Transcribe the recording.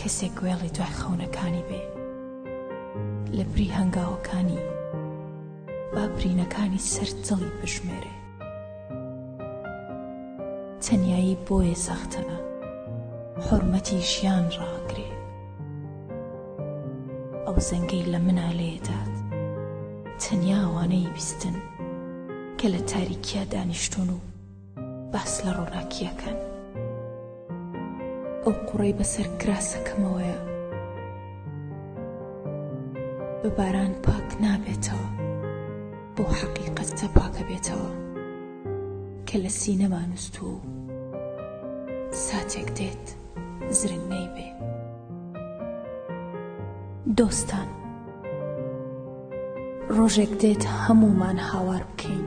کەسێک گوێڵی دوای خەونەکانی بێ لە بری هەنگاوەکانی با برینەکانی سەر دڵی بژمێرێ تەنایی بۆیە سەختە حورمەتی ژیان ڕاگرێ ئەو زەنگەی لە منا لێدات تەنیاوانەی بیستن کە لە تاریکیا دانیشتون و باس لە ڕووناکییەکان. ئەو قوڕەی بەسەر کراسەکەمەوەیە بە باران پاک نابێتەوە، بەو حەقیقەتە پاکەبێتەوە کە لە سینەما نوستووە و ساتێک دێت زرنگ نەیبێ. دۆستان، ڕۆژێک دێت هەموومان هاوار بکەین.